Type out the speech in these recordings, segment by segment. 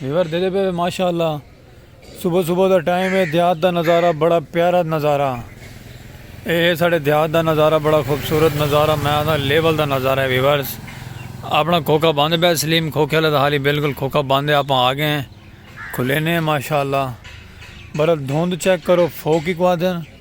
Viewer دیکھتے پہ ماشاءاللہ صبح صبح دا ٹائم ہے دیہات دا نظارہ بڑا پیارا نظارہ اے ہے ساڑھے دیہات دا نظارہ بڑا خوبصورت نظارہ میں آدھا لیول دا نظارہ ہے ویورز اپنا کھوکا باندھے بے سلیم کھوکے اللہ دا حالی بالکل کھوکا باندھے آپ آگے ہیں کھلے نے ماشاءاللہ برا دھوند چیک کرو فوکی کو آدھے ہیں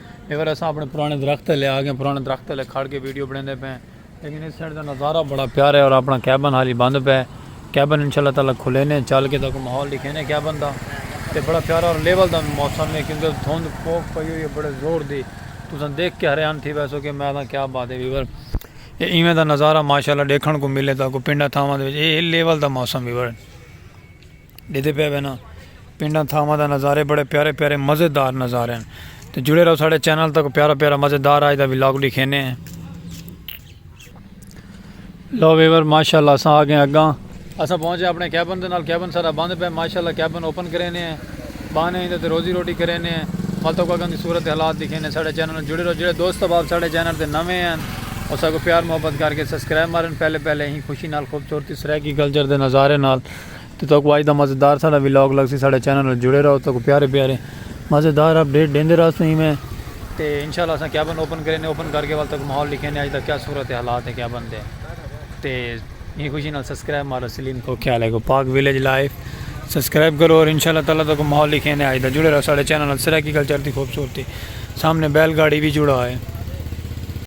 اے وار اساں اپنے پرانے درخت تلے آ گئے پرانے درخت تلے کھڑ کے ویڈیو بنیندے پئے لیکن اس سائیڈ دا نظارہ بڑا پیارا ہے اور اپنا کیبن حالی بند پئے کیبن انشاءاللہ تعالی کھلینے چل کے تاکہ ماحول دکھینے کیبن دا تے بڑا پیارا اور لیول دا موسم ہے کیونکہ دھند پوک پئی ہوئی ہے بڑے زور دی تساں دیکھ کے حیران تھی ویسو کہ میں دا کیا بات ہے ویور اے ایویں دا نظارہ ماشاءاللہ دیکھن کو ملے تاکہ پنڈا تھاواں دے اے لیول دا موسم ویور ڈیدے پئے وینا پنڈاں تھاواں دا نظارے بڑے پیارے پیارے مزے دار نظارے ہیں تو جڑے رہو ساڑے چینل تک پیارا پیارا مزے دار آج دا ولاگ ڈکھینے ہیں لو ویور ماشاءاللہ اساں آگے اگاں اساں پہنچے اپنے کیبن دے نال کیبن سارا بند پہ ماشاءاللہ کیبن اوپن کرینے ہیں بانے ہیں تے روزی روٹی کرینے ہیں مالتوں کو اگاں دی صورت حالات دکھینے ساڑے چینل جڑے رہو جڑے دوست باب ساڑے چینل دے نوے ہیں اساں کو پیار محبت کر کے سبسکرائب مارن پہلے پہلے ہی خوشی نال خوبصورتی سرائیکی کلچر دے نظارے نال تے تہاکوں اج دا مزیدار ساڈا ولاگ لگسی ساڈے چینل نال جڑے رہو تہاکوں پیارے پیارے مزیدار اپ ڈیٹ ڈیندے رہسوں ایویں تے انشاءاللہ اساں کیبن اوپن کرینے اوپن کر کے ول تہاکوں ماحول ڈکھینے اج دا کیا صورت حالات ہے کیبن دے تے ایں خوشی نال سبسکرائب مارو سلیم کو کیا لے کو پاک ولیج لائف سبسکرائب کرو اور انشاءاللہ تعالی تہاکوں ماحول ڈکھینے اج دا جڑے رہو ساڈے چینل نال سرائیکی کلچر دی خوبصورتی سامنے بیل گاڑی وی جڑا ہے۔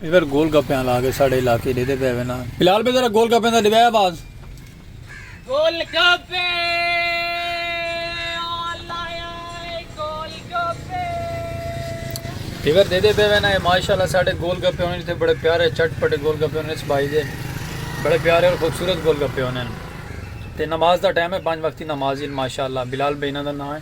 ادھر گول گپے آلا آگے ساڑے علاقے دے دے پہ وے نا بلال بے ذرا گول گپے دا دے بے آواز گول گپے آلا آئے گول گپے ادھر دے دے پہ وے نا ماشاءاللہ ساڑے گول گپے ہونے تھے بڑے پیارے چٹ پٹے گول گپے ہونے اس بھائی دے بڑے پیارے اور خوبصورت گول گپے ہونے تے نماز دا ٹائم ہے پانچ وقتی نماز ہی ماشاءاللہ بلال بے انہ دا نا ہے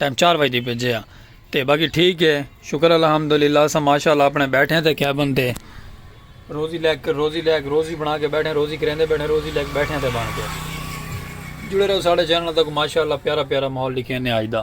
ٹائم چار بجے دی بھیجے آ تے باقی ٹھیک ہے شکر الحمدللہ اساں ماشاءاللہ اپنے بیٹھے ہیں تے کیا بنتے روزی لے کے روزی لے کے روزی بنا کے بیٹھے ہیں روزی کریندے بیٹھے ہیں روزی لے کے بیٹھے ہیں تے بن کے جڑے رہو ساڑھے چینل تک ماشاءاللہ پیارا پیارا ماحول لکھے نے آج دا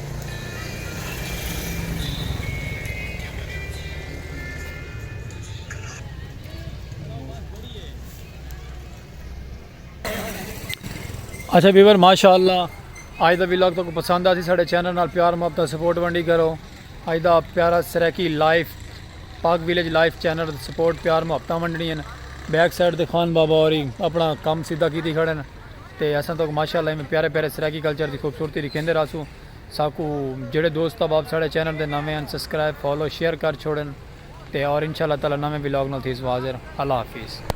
اچھا ویور ماشاء اللہ آج دا ویلاگ تو پسند آ سی سارے چینل نال پیار محبت سپورٹ ونڈی کرو آج دا پیارا Saraiki life Pak village life channel support پیار محبت ونڈنی ہیں بیک سائڈ دے خان بابا اور اپنا کام سیدھا کیتی کھڑے ہیں تے اساں تہاکوں ماشاء اللہ ایویں پیارے پیارے سرائیکی کلچر دی خوبصورتی ڈکھیندے رہسوں ساکوں جیڑھے دوست احباب ساڈے چینل دے نویں ہن سسکرائب فالو شیئر کر چھوڑن تے اور انشاء اللہ تعالی نویں ولاگ نال تھیسوں حاضر اللہ حافظ۔